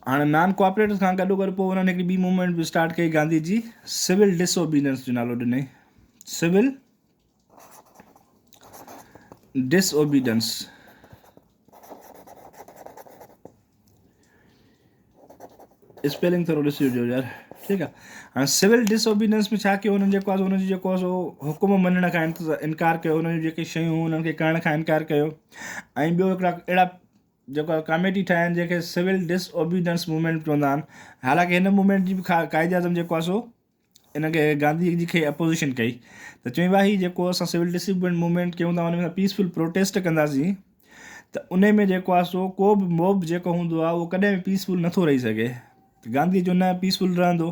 هاڻ non cooperators کان گڏو گڏ پوء انهن هڪڙي ٻي موومينٽ به اسٽارٽ ڪئي گانڌي جي سول ڊس اوبيننس جو نالو ڏنئي سول ڊس اوبيننس اسپيلنگ ٿورو ڏسي وجو يار ٺيڪ آهي هاڻي سول ڊس اوبيننس ۾ ڇا ڪيو هنن جيڪو هن جو جيڪو هو سو حڪم مڃڻ کان انڪار ڪيو هن جون جيڪي شيون هنن کي ڪرڻ کان انڪار ڪيو ۽ ٻيو هڪڙا اهڙا جيڪا ڪاميٽي ٺاهي آهن جنهن کي سول ڊس اوبيڊنس موومينٽ چوندا آهن حالانڪ هن موومينٽ جي به قائد اعظم جيڪو آهي سو ان کي گانڌي جي کي اپوزيشن ڪئي ته چوي وا هي جيڪو اسان سول ڊس اوبيڊنس موومينٽ ڪيون ٿا ان ۾ پيسفل پروٽيسٽ ڪنداسين ته ان ۾ جيڪو آهي سو ڪو به موب جيڪو هوندو آهي اهو ڪڏهن به پيسفل نٿو رهي سگهي ته گانڌي جو نه پيسفل رهندو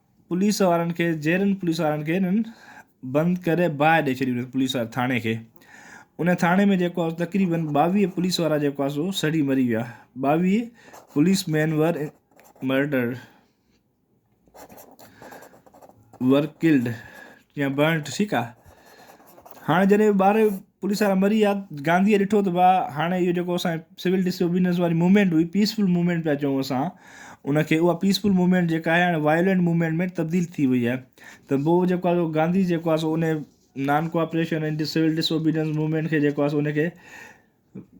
پوليس وارن کي جيئرن پوليس وارن کي انهن بند ڪري باهه ڏئي ڇڏي انهن پوليس واري ٿاڻي کي ان ٿاڻي ۾ جيڪو آهي تقريبن ٻاويهه پوليس وارا جيڪو آهي سو سڙي مري ويا ٻاويهه پوليس مين ور مرڊر ور ڪلڊ يا برنٽ ٺيڪ آهي هاڻي جڏهن ٻارهه پوليس وارا مري ويا، گانڌيء ڏٺو ته واهه، هاڻي اهو جيڪو اسان جي سول ڊس اوبيڊنس واري موومينٽ هئي، پيس فل موومينٽ پيا چئون اسان ان کي، اها پيس فل موومينٽ جيڪا آهي هاڻي وائيولينٽ موومينٽ ۾ تبديل ٿي وئي آهي ته بوء جيڪو آهي سو گانڌي جيڪو آهي سو ان non cooperation ۽ civil disobedience movement کي جيڪو آهي سو ان کي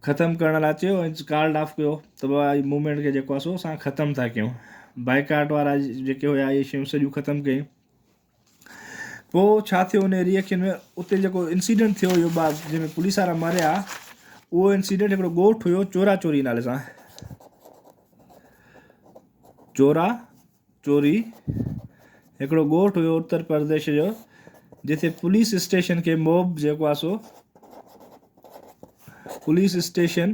ختم ڪرڻ لاء چيو ۽ ڪالڊ آف ڪيو ته بابا هي موومينٽ کي جيڪو آهي سو اسان ختم ٿا ڪيون بائيڪاٽ وارا جيڪي هيا اهي شيون سڄيون ختم ڪيون پوء ڇا ٿيو ان ريء کي ۾ اتي جيڪو انسيڊنٽ ٿيو هيو ٻار جنهن ۾ پوليس وارا ماريا اهو انسيڊنٽ هڪڙو ڳوٺ هيو چورا چوري نالي سان چورا چوري هڪڙو ڳوٺ هيو اتر پرديش جو جتي پوليس اسٽيشن کي موب جيڪو آسو پوليس اسٽيشن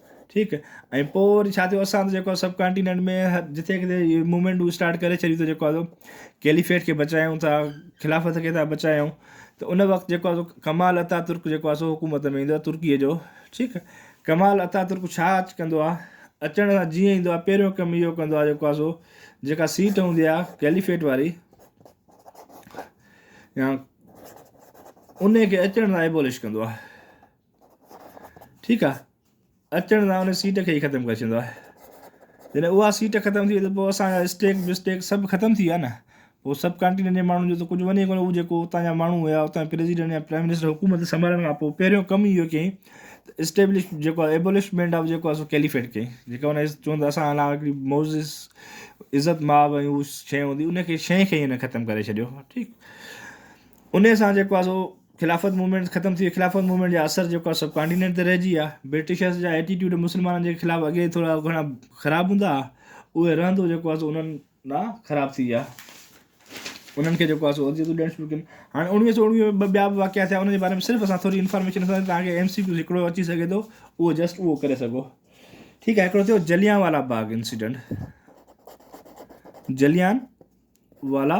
ٺيڪ ۽ پوء وري ڇا ٿيو اسان ته جيڪو سب ڪانٽيننٽ ۾ جتي ڪٿي هيء موومينٽون اسٽارٽ ڪري ڇڏيون ته جيڪو آهي ڪيليفيٽ کي بچايون ٿا خلافت کي ٿا بچايون ته ان وقت جيڪو آهي ڪمال اتا ترڪ جيڪو آهي سو حڪومت ۾ ايندو آهي ترڪيء جو ٺيڪ ڪمال اتا ترڪ ڇا اچ ڪندو آهي اچڻ سان جيئن ايندو آهي پهريون ڪم اهو ڪندو آهي جيڪو آهي سو جيڪا سيٽ هوندي آهي ڪيليفيٽ واري يا ان کي اچڻ لاء ايبولش ڪندو آهي ٺيڪ آ اچڻ سان ان سيٽ کي ئي ختم ڪري ڇڏيندو آهي جڏهن اها سيٽ ختم ٿي وئي ته پوء اسان جا اسٽيڪ بسٽيڪ سڀ ختم ٿي ويا نه پوء سب ڪانٽينن جي ماڻهن جو ته ڪجهه وڃي ڪونه هو جيڪو اتان جا ماڻهو هيا اتان جا پريزيڊنٽ يا پرائيم منسٽر حڪومت سنڀالڻ کان پوء پهريون ڪم ئي اهو ڪيائين ته اسٽيبلش جيڪو آهي ايبولشمينٽ آف جيڪو آهي سو ڪيليفيٽ ڪيائين جيڪا ان چون ته اسان علاوه هڪڙي معزز عزت ماب ۽ شي هوندي ان کي شي کي هن ختم ڪري ڇڏيو ٺيڪ ان سان جيڪو آهي سو خلافت موومينٽ ختم ٿي وئي خلافت موومينٽ جا اثر جيڪو آهي سڀ ڪانٽينينٽ تي رهجي ويا برٽشرز جا ايٽيٽيوڊ مسلمانن جي خلاف اڳي ٿورا گهڻا خراب هوندا هئا اهي رهندو جيڪو آهي سو انهن ڏانهن خراب ٿي ويا انهن کي جيڪو آهي سو اذيتون ڏيڻ شروع ڪيون هاڻي اڻويهه سو اڻويهه ۾ ٻه ٻيا به واقعا ٿيا انهن جي باري ۾ صرف اسان ٿوري انفارميشن ڏسنداسين تاڪه ايم سي ڪيوز هڪڙو اچي سگهي ٿو اهو جسٽ اهو ڪري سگهو ٺيڪ آهي هڪڙو ٿيو جليان والا باغ انسيڊنٽ جليان والا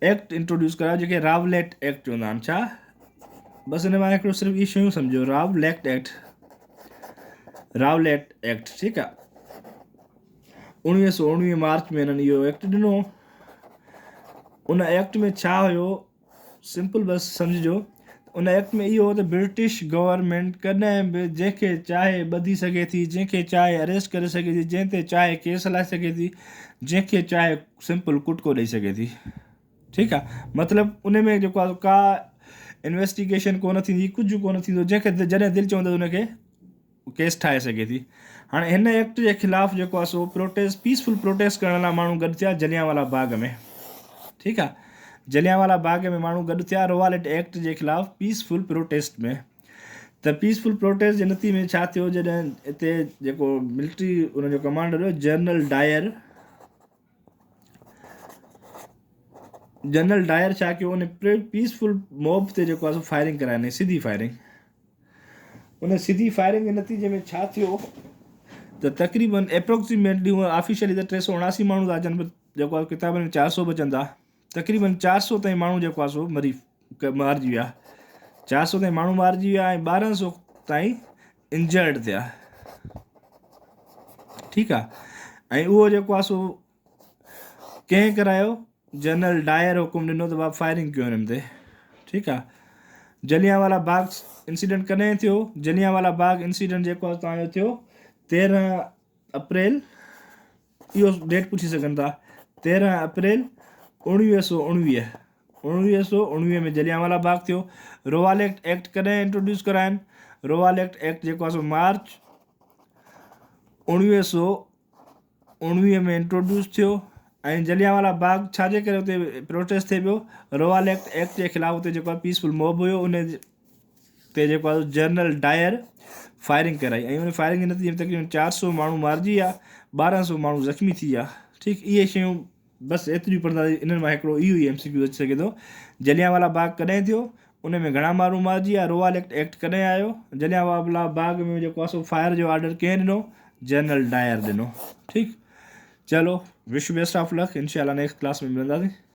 ايڪٽ انٽروڊيوس ڪرايو جنهن کي راوليٽ ايڪٽ چوندا آهن ڇا بس ان مان هڪڙو صرف اهي شيون سمجهو راوليڪٽ ايڪٽ راوليٽ ايڪٽ ٺيڪ آ اڻويهه سو اڻويهه مارچ ۾ هنن اهو ايڪٽ ڏنو ان ايڪٽ ۾ ڇا هيو سمپل بس سمجهجو ان وقت ۾ اهو هو ته برٽش گورنمينٽ ڪڏهن به جنهن کي چاهي ٻڌي سگهي ٿي، جنهن کي چاهي اريسٽ ڪري سگهي ٿي، جنهن تي چاهي ڪيس هلائي سگهي ٿي، جنهن کي چاهي سمپل ڪٽڪو ڏئي سگهي ٿي. ٺيڪ آ مطلب ان ۾ جيڪو آ ڪا انويسٽيگيشن ڪونه ٿيندي ڪجهه ڪونه ٿيندو جنهن کي جڏهن دل چوندو ان کي ڪيس ٺاهي سگهي ٿي هاڻي هن ايڪٽ جي خلاف جيڪو آهي سو پروٽيسٽ پيسفل پروٽيسٽ ڪرڻ لاء ماڻهو گڏ ٿيا جليان والا باغ ۾ ٺيڪ آ جليان والا باغ ۾ ماڻهو گڏ ٿيا روالٽ ايڪٽ جي خلاف پيسفل پروٽيسٽ ۾ ته پيسفل پروٽيسٽ جي نتي ۾ ڇا ٿيو جڏهن اتي جيڪو ملٽري ان جو ڪمانڊر هو جنرل ڊائر جنرل ڊائر ڇا ڪيو ان پيس فل موب تي جيڪو آهي فائرنگ ڪرائي ڏني سڌي فائرنگ ان سڌي فائرنگ جي نتيجي ۾ ڇا ٿيو ته تقريبن اپروڪسيميٽلي آفيشلي ته ٽي سؤ اڻاسي ماڻهو ٿا اچن جيڪو ڪتابن ۾ چار سؤ به اچن ٿا تقريبن چار سؤ تائين ماڻهو جيڪو آهي سو مري مارجي ويا چار سؤ تائين ماڻهو مارجي ويا ۽ ٻارهن سؤ تائين انجرڊ ٿيا ٺيڪ آ ۽ اهو جيڪو آ سو ڪنهن ڪرايو جنرل ڊائر حڪم ڏنو ته بابا فائرنگ ڪيو هنن تي ٺيڪ آ جليان والا باغ انسيڊنٽ ڪڏهن ٿيو جليان والا باغ انسيڊنٽ جيڪو آ تان جو ٿيو تيرهن اپريل اهو ڊيٽ پڇي سگهن ٿا تيرهن اپريل اوڻويهه سؤ اوڻويهه اوڻويهه سؤ اوڻويهه ۾ جليان والا باغ ٿيو رواليڪٽ ايڪٽ ڪڏهن انٽروڊيوس ڪراين رواليڪٽ ايڪٽ جيڪو آسو مارچ اوڻويهه سؤ اوڻويهه ۾ انٽروڊيوس ٿيو ۽ جليان والا باغ ڇا جي ڪري اتي پروٽيسٽ ٿي پيو رواليڪٽ ايڪٽ جي خلاف اتي جيڪو پيسفل موب هيو ان تي جيڪو آهي جنرل ڊائر فائرنگ ڪرائي ۽ ان فائرنگ جي نتيجي ۾ تقريبن چار سو ماڻهو مارجي ويا ٻارهن سو ماڻهو زخمي ٿي ويا ٺيڪ اهي شيون بس ايتريون پڙهن ٿا انهن مان هڪڙو اهو ئي ايم سي ڪيو اچي سگهي ٿو جليان والا باغ ڪڏهن ٿيو ان ۾ گهڻا ماڻهو مارجي ويا روال ايڪٽ ايڪٽ ڪڏهن آيو جليان والا باغ ۾ جيڪو آسو فائر جو آرڊر ڪنهن ڏنو جنرل ڊائر ڏنو ٺيڪ چلو وش بيسٽ آف لڪ انشاء الله نيڪسٽ ڪلاس ۾ ملنداسين